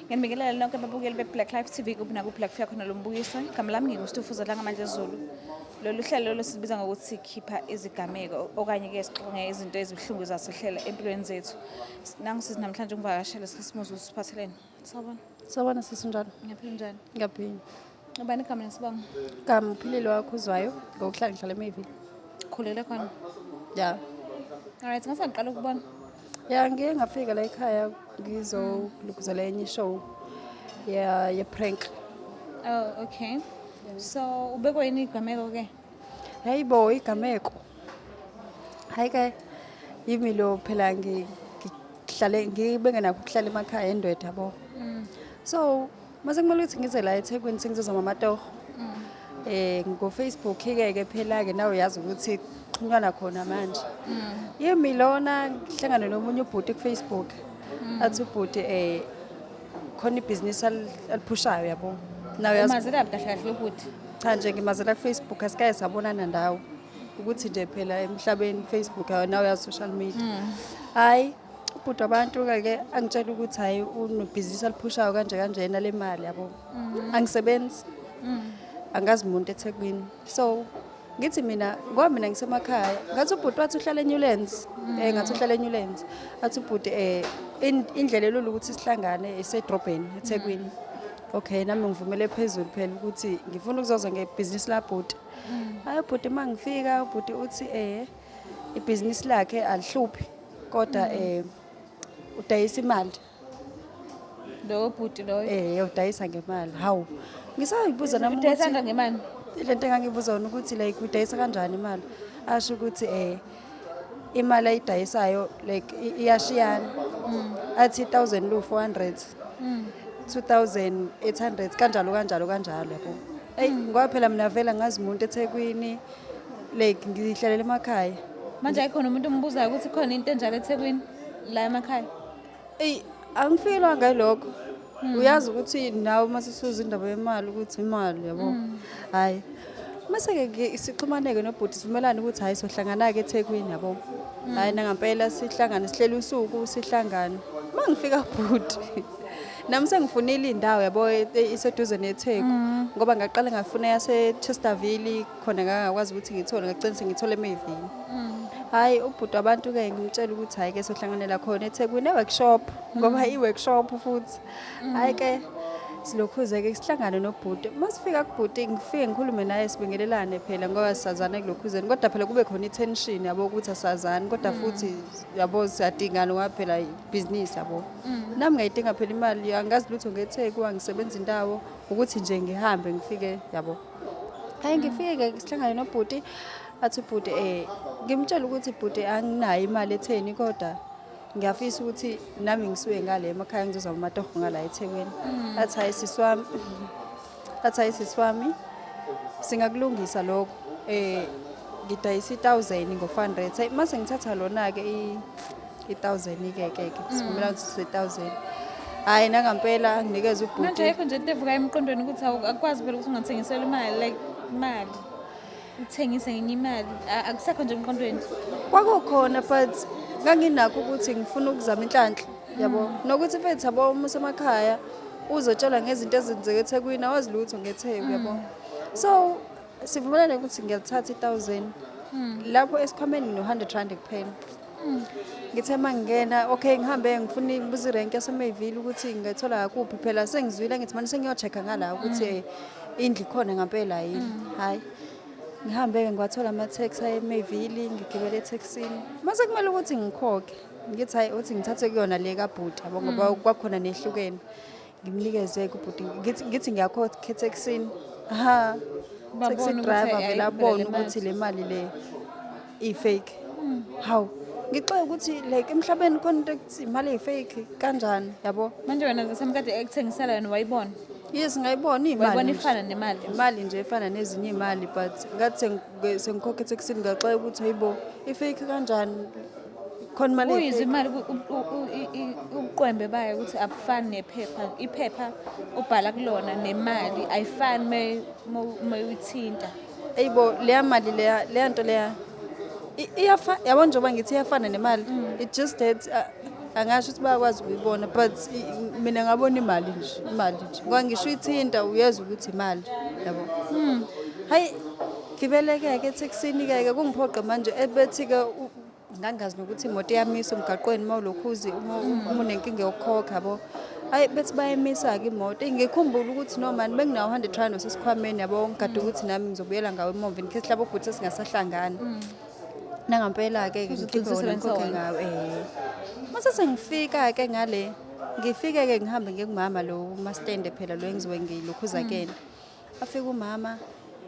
Nginibingelela nonke ababukeli be-Black Life TV kuphi nakuphi la kufika khona lo mbukiso. Igama lami nginguStufuza la ngamandla ezulu. Lolu hlelo lolu silubiza ngokuthi sikhipha izigameko okanye-ke sixonge izinto ezibuhlungu zasihlela empilweni zethu. Nangisizi namhlanje ungivakashele sikhisimuzi usiphatheleni. Sawubona. Sawubona sisi njalo. Ngiyaphila njani? Ngiyaphila. Ubani igama nesibongo? Igama uphilile wakho uzwayo ngokuhlala ngihlala emayville. Khulele khona. Ya. Alright, ngase ngiqala ukubona. Ya ngiye ngafika la ekhaya ngizolukuzela enye show ya ye prank. Oh, okay. So ubekwa yini igameko ke? Hayi bo igameko. Hayi ke yimi lo phela ngihlale ngibengenakho ukuhlala emakhaya endwetha bo. Mm. So Mase kumele ukuthi ngize la eThekwini sengizoza mamatoho. Mm. Eh ngofacebook ke ke phela ke nawe uyazi ukuthi kuxhunywana khona manje. Mm. Yimi lona ngihlangana nomunye ubhuti kufacebook. Mm. Athi ubhuti eh khona ibhizinisi aliphushayo yabo. Nawe uyazi. Mazela kahle kahle ubhuti. Cha nje ngimazela kufacebook asikaye sabonana ndawo. ukuthi nje phela emhlabeni Facebook nawe ya social media hayi ubhuti wabantu-ke ke angitshela ukuthi hhayi unebhizinisi aliphushayo kanje kanjena le mali yabo mm. angisebenzi mm. angazi muntu ethekwini so ngithi mina ngoba mina ngisemakhaya ngathi ubhuti wathi uhlala eNewlands um eh, ngathi uhlala eNewlands athi ubhuti um indlela elula ukuthi sihlangane isedrobheni ethekwini okay nami ngivumele phezulu phela ukuthi ngifuna ukuzoza ngebhizinisi labhuti mm. hayi ubhuti uma ngifika ubhuti uthi um ibhizinisi lakhe alihluphi kodwa um udayisa imali lowo bhuti loyo um udayisa ngemali hawu ngisayibuza nam udayisanga ngemali le nto engangibuza wona ukuthi like udayisa kanjani imali asho ukuthi um imali ayidayisayo like iyashiyana mm. athi i-thousand lu-four hundred mm. two thousand eight hundred kanjalo kanjalo kanjalo yabo eyi mm. ngoba phela mina vele ngazi muntu ethekwini like ngihlalela emakhaya manje ayikhona umuntu ombuzayo ukuthi khona into enjalo ethekwini la emakhaya eyi angifikelwa ngalokho hmm. uyazi ukuthi nawe uma sisuza indaba yemali ukuthi imali yabo hmm. hhayi mase-ke sixhumaneke nobhuti sivumelane ukuthi hhayi sohlangana-ke ethekwini yabo hmm. hhayi nangampela sihlangane sihlele usuku sihlangane uma ngifika bhuti Nami sengifunile indawo yabo e- e- iseduze neTheku Mm. ngoba ngaqala ngafuna yase Chesterville khona ngangakwazi ukuthi ngithole ngagcina sengithole emevini. Mm. Hayi ubhuti wabantu ke ngimtshela ukuthi hayi ke sohlanganela khona eTheku ne workshop Mm. ngoba i workshop futhi. Hayi ke silokhuze ke sihlangane nobhuti. Masifika kubhuti ngifike ngikhulume naye sibingelelane phela ngoba sisazana kulokhuzeni kodwa phela kube khona itension yabo ukuthi asazani kodwa Mm. futhi yabo siyadingana ngoba phela ibhizinisi yabo mm. nami ngayidinga phela imali angazi lutho ngetheku angisebenza indawo ukuthi nje ngihambe ngifike yabo hayi ngifike sihlangane nobhuti athi ubhuti um eh, ngimtshela ukuthi bhuti anginayo imali etheni kodwa ngiyafisa ukuthi nami ngisuke ngale emakhaya ngizozama amatoho ngala ethekwini mm. athi hayi sisi wami athi hayi sisi wami singakulungisa lokho eh ngidayisa i-thousand ngo-hundred hayi uma sengithatha lona-ke i-thousand ke ke ke sivumela ukuthi sise-thousand hhayi nangampela anginikeze manje ubhuti ayikho nje into evuka emqondweni ukuthi awu- akukwazi phela ukuthi ungathengisela imali like imali uthengise ngenye imali A- akusekho nje emqondweni kwakukhona but nganginakho ukuthi ngifuna ukuzama inhlanhla yabo nokuthi mfethu yabo uma usemakhaya uzotshelwa ngezinto ezenzeka ethekwini awazi lutho ngetheku yabo so sivumelane ukuthi ngiyalithatha i-thousand lapho esikhwameni ngino-hundred rand kuphela Hmm. ngithe uma ngingena okay ngihambe ngifuna ngibuza irenki yasemayville ukuthi ngingathola ngakuphi phela sengizwile ngithi mane sengiyocheck-a ngala ukuthi hmm. eh, indlu ikhona ngampela yini hmm. hhayi ngihambe-ke ngiwathola ama-tax ayemayville ngigibele ethexini mase kumele ukuthi ngikhokhe ngithi hhayi uthi ngithathe kuyona le kabhuti yabo ngoba kwakhona nehlukene ngimnikeze kubhuti ngithi ngithi ngiyakhokhetha ekuseni ha Babone taxi ukuthi driver vele ayikho abone le mali. ukuthi le mali le i-fake hawu ngixoke ukuthi like emhlabeni khona into ekuthi imali eyi-fake kanjani yabo manje wena zasemkade ekuthengisela yona wayibona yes ngayibona wayibona iyimali ifana nemali imali nje efana nezinye iy'mali but ngathi sengi- sengikhokhetha ekuseni ngaxoka ukuthi hayibo i-fake kanjani khona imali kuyizimali ubuqwembe bayo ukuthi abufani nephepha iphepha ubhala kulona nemali ayifani uma uyithinta eyibo leya mali leya leya nto leya iyafa yabo njengoba ngithi iyafana nemali mm. it just that uh, angasho ukuthi bayakwazi ukuyibona but mina ngabona imali nje imali nje ngoba ngisho uyithinta uyezwa ukuthi imali yabo mm. hayi ngibeleke-ke etheksini-ke-ke kungiphoqa manje ebethi-ke ngangazi nokuthi imoto iyamisa umgaqweni uma ulokhuzi uma unenkinga yokukhokha yabo ayi bethi bayemisa-ke imoto ngikhumbula ukuthi nomani bengingawu hundred rand osesikhwameni yabo ngigade ukuthi nami ngizobuyela ngawo emomva in case labo bhuti sesingasahlangani mm. nangampela-ke ke ngikhiphe wona ngikhokhe ngawo um eh. mase sengifika-ke ngale ngifike-ke ngihambe ngikumama lo mastende phela lo engiziwe ngilokhuza kena mm. afike umama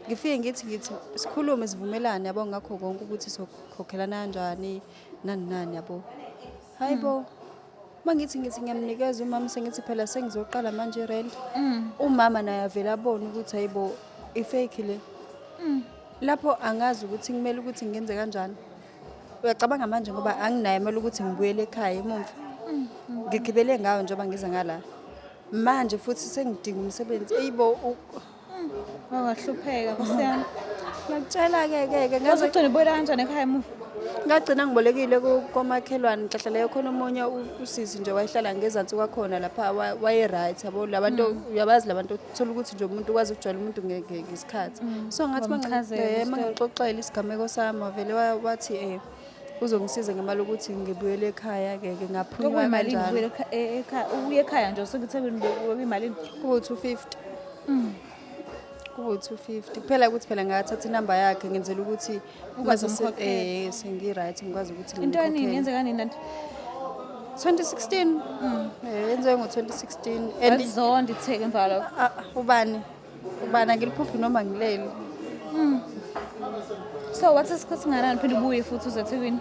ngifike ngithi ngithi sikhulume sivumelane yabo ngakho konke ukuthi sokhokhelana kanjani nani nani yabo hayi bo mm. uma ngithi ngithi ngiyamnikeza umama sengithi phela sengizoqala manje rent mm. umama naye avele abone ukuthi hayi bo ifake le mm. lapho angazi ukuthi kumele ukuthi ngenze kanjani uyacabanga manje ngoba anginayo imali ukuthi ngibuyele ekhaya emumva ngigibele ngayo njengoba ngiza ngala manje futhi sengidinga umsebenzi eyibo wangahlupheka kusiyami ngakutshela-ke ke ke ngaze ugcina ubuyela kanjani ekhaya emuva ngagcina ngibolekile ku- komakhelwane nhlahla leyo khona omunye u- usisi nje wayehlala ngezansi kwakhona lapha wa- waye-right yabo labantu uyabazi labantu thola ukuthi nje umuntu ukwazi ukujwayela umuntu ngesikhathi mm. so ngathi mangixoxela isigameko sami wavele wathi um uzongisiza ngemali ukuthi ngibuyele ekhaya ke ke ngaphuma kanjalo e-, ubuye ekhaya nje usebuthekweni bekwimalini kubo 250 mm. kubo 250 kuphela ukuthi phela ngathatha inamba yakhe ngenzela ukuthi Ukwazi umkhokhela. Eh sengi-right ngikwazi ukuthi Into eningi ngimkhokhele. yenzeka nini nanti? 2016. Mm. Eh yenziwe ngo-2016 and Azonda itheke emva kwalokho. Ah, ubani ubani angiliphuphi noma ngileli So wathi isikhathi singanani phinde ubuye futhi uze eThekwini?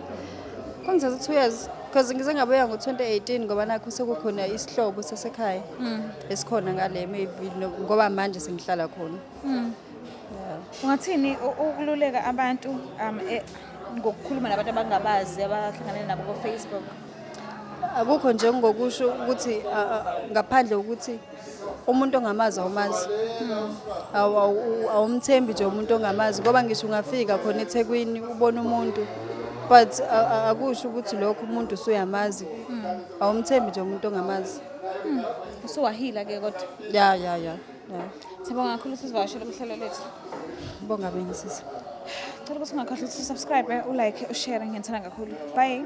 kungithatha two years because ngize ngabuya ngo-2018 ngoba nakho sekukhona isihlobo sasekhaya esikhona ngale maybe no- ngoba manje sengihlala khona Ungathini ukululeka abantu um e, ngokukhuluma nabantu abangabazi abahlangane nabo ko Facebook? Akukho nje ngokusho ukuthi ngaphandle ukuthi umuntu ongamazi awumazi. Hmm. Awumthembi nje umuntu ongamazi ngoba ngisho ungafika khona eThekwini ubona umuntu but akusho ukuthi lokho umuntu usuyamazi. Hmm. Awumthembi nje umuntu ongamazi. Hmm. Usuwahila ke kodwa. Ya ya ya. Sibonga kakhulu sizivakashela kuhlelo lethu. Bonga beni sisi. Cela ukuthi ungakhohlwa ukuthi subscribe, u like, u share ngiyithanda kakhulu. Bye.